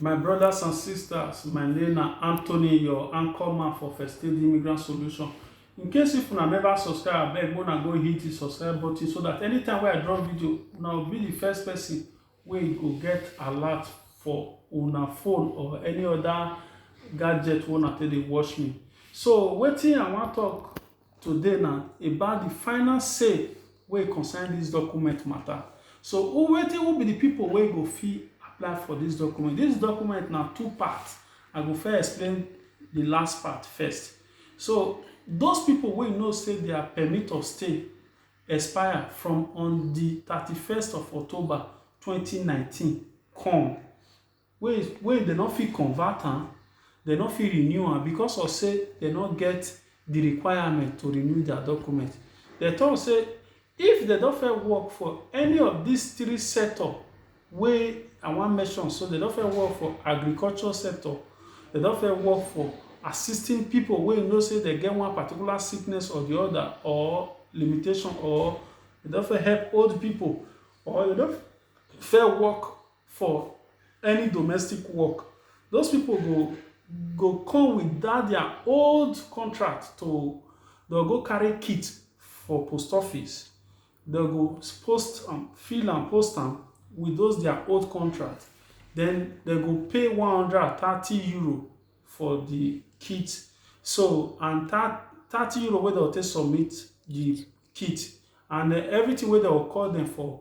My brothers and sisters, my name na Anthony, your anchor man for First Aid Immigrant Solution. In case if una never subscribe, abeg una go hit the subscribe button so that anytime wey I drop video, una will be the first person wey go get alert for una phone or any other gadget wey una take dey watch me. So wetin I wan talk today na about the final say wey concern this document matter. So who wetin who be the people wey go fit apply for this document? This document na two parts. I go first explain the last part first. So those people wey know say their permit of stay expire from on the thirty-first of October twenty nineteen come wey wey dem no fit convert am, dem no fit renew am because of sey dem no get de requirement to renew dia document. Dem talk sey if dem don first work for any of dis three sector wey I wan mention so, dem don first work for agriculture sector, dem don first work for assisting pipu wey you know sey dem get one particular sickness or de other or limitation or dem don first help old pipu or dem don first work for any domestic work those people go go come with that their old contract to they'll go carry kit for post office they'll go post um, fill and post them with those their old contract then they go pay 130 euro for the kit so and that 30 euro wey dem take submit the kit and uh, everything wey dem call them for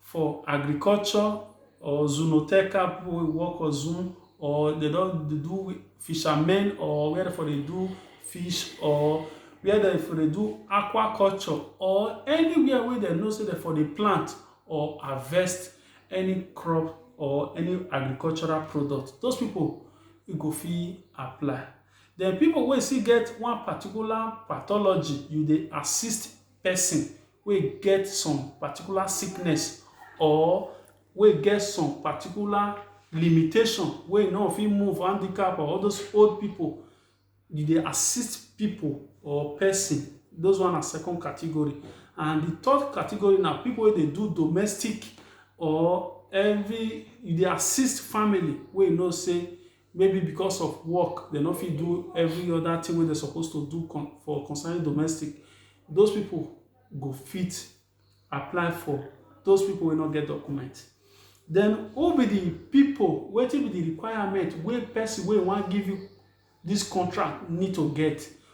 for agriculture or zoonoteca people wey work for zoo or they don dey do fishermen or where dem for dey do fish or where dem for dey do aquaculture or anywhere wey dem know sey dem for dey plant or harvest any crop or any agricultural product. Those people e go fit apply. Den people wey still get one particular pathology, you dey assist person wey get some particular sickness or wey get some particular limitation wey e no go fit move, handicap or all those old pipu. You dey assist pipu or person. Those one na second category. And the third category na pipu wey dey do domestic or every you dey assist family wey you know sey maybe because of work they no fit do every other thing wey they supposed to do for concerning domestic those people go fit apply for those people wey no get document then who be the people wetin be the requirement wey person wey wan give you this contract need to get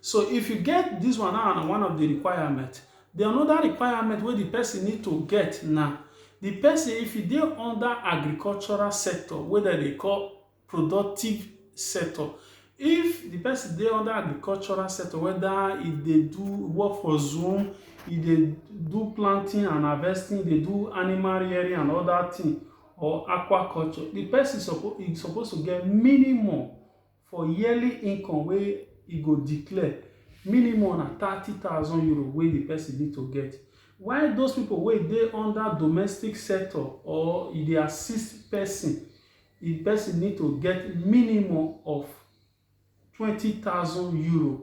So if you get this one now na one of the requirement. The another requirement wey the person need to get na the person if you dey under agricultural sector wey dem dey call productive sector. If the person dey under agricultural sector whether e dey do work for zoo, e dey do planting and harvesting, e dey do animal rearing and other thing or aquaculture, the person suppose e suppose to get minimum for yearly income wey e go declare minimum na thirty thousand euro wey the person need to get while those people wey dey under domestic sector or e dey assist person the person need to get minimum of twenty thousand euro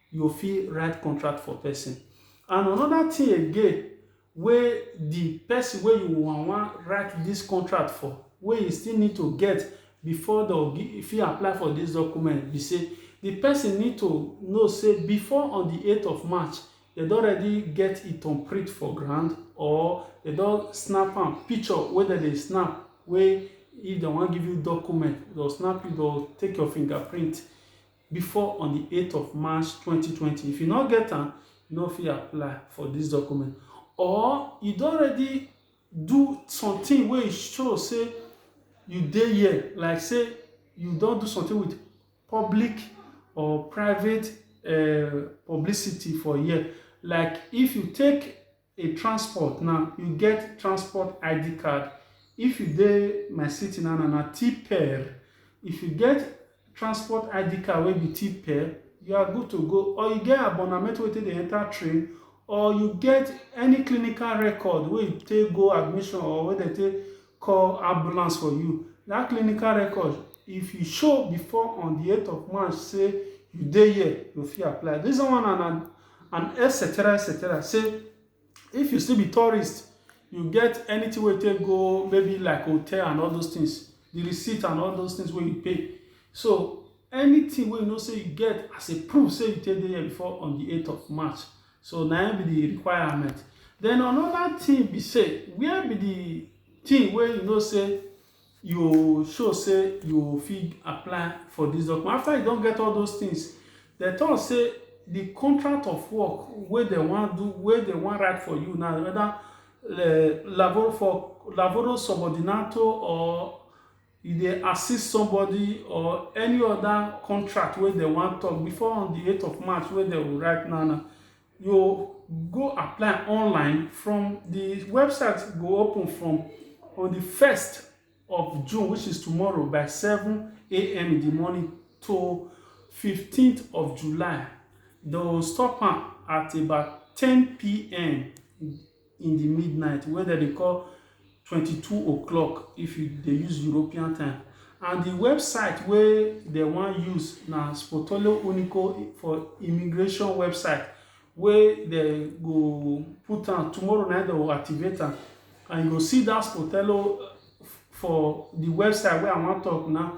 you fit write contract for person. And another thing again wey the person wey you wan wan write this contract for wey you still need to get before the fit apply for this document be say the person need to know say before on the 8th of March they don already get it on print for ground or they don snap am picture wey dem dey snap wey if dem wan give you document they'll snap you they'll take your fingerprint before on di eight of March twenty twenty. If you no get am, you no fit apply for dis document or you don already do something wey e show sey you dey here like sey you don do something with public or private um publicity for here like if you take a transport na you get transport id card if you dey my city na na na tper if you get transport id card wey be tper you are good to go or you get abonnement wey take dey enter train or you get any clinical record wey you take go admission or wey dem take call ambulance for you. That clinical record, if you show before on the 8th of March, say you dey here, you fit apply. This one and an, an etc. etc. Say if you still be tourist, you get anything wey take go maybe like hotel and all those things, the receipt and all those things wey you pay. So anything wey you know say you get as a proof say you take dey here before on the 8th of March, So na im be the requirement. Then another thing be say, where be the thing wey you know say you show say you fit apply for this document? After you don get all those things, dem talk say the contract of work wey dem wan do, wey dem wan write for you now, whether uh, lavoro for lavoro subordinato or you dey assist somebody or any other contract wey dem wan talk before on the 8th of March wey dem will write now now, you go apply online from the website go open from on the 1st of June which is tomorrow by 7 a.m. in the morning to 15th of July. They will stop am at about 10 p.m. in di midnight wey dem dey call twenty two o'clock if you dey use European time and di website wey dem wan use na Spotolo Unico for immigration website wey dem go put am tomorrow na dem go activate am and you go see dat Spotolo for di website wey I wan talk now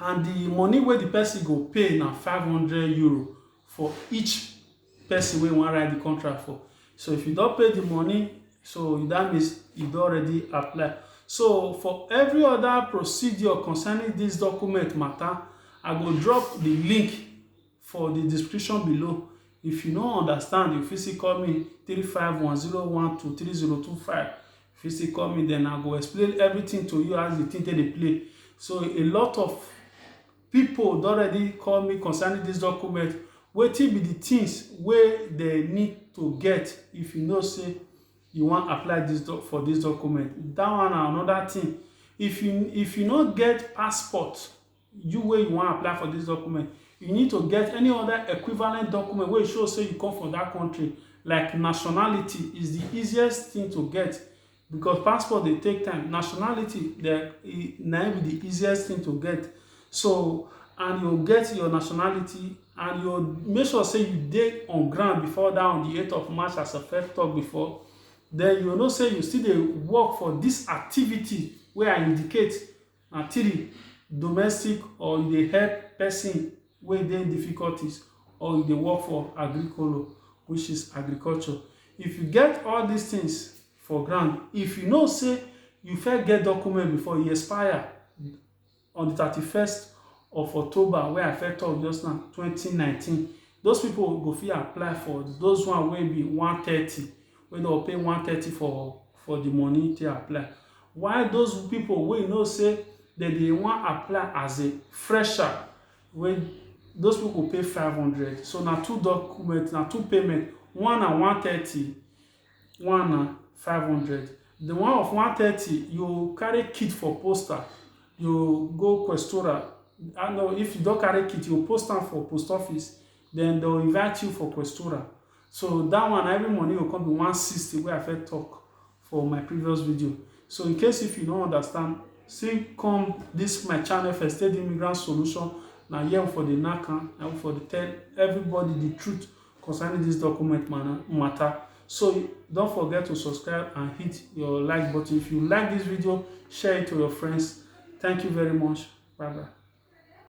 and di money wey di person go pay na five hundred euro for each person wey you wan write di contract for so if you don pay di money so that means you don already apply so for every other procedure concerning dis document matter i go drop di link for the description below. If you no understand, you fit still call me 35101230225. If you still call me, then I go explain everything to you as the thing take dey play. So a lot of people don already call me concerning this document. Wetin be the things wey they need to get if you know say you wan apply this doc for this document? That one na another thing. If you if you no get passport, you where you want to apply for this document you need to get any other equivalent document where you show say you come from that country like nationality is the easiest thing to get because passport they take time nationality they e, na be the easiest thing to get so and you get your nationality and you make sure say you dey on ground before that on the 8th of march as a first talk before then you know say you still dey work for this activity where i indicate Na three, domestic or you dey help person wey dey difficulties or you dey work for agrikolo which is agriculture. If you get all these things for ground, if you know sey you first get document before e expire on the thirty first of October wey I first talk just now, twenty nineteen. Those pipu go fit apply for those one wey be one thirty. wey dem go pay one thirty for for the money take apply while those people wey you know say dem dey wan apply as a fresher wey those people go pay five hundred so na two document na two payment one na one thirty one na five hundred the one of one thirty you carry kit for poster you go questora and if you don carry kit you post am for post office then they'll invite you for questura so that one every money will come be 160 where i first talk for my previous video so in case if you don't understand see come this my channel first aid immigrant solution Now here for the naka now for the tell everybody the truth concerning this document matter so don't forget to subscribe and hit your like button if you like this video share it to your friends thank you very much bye bye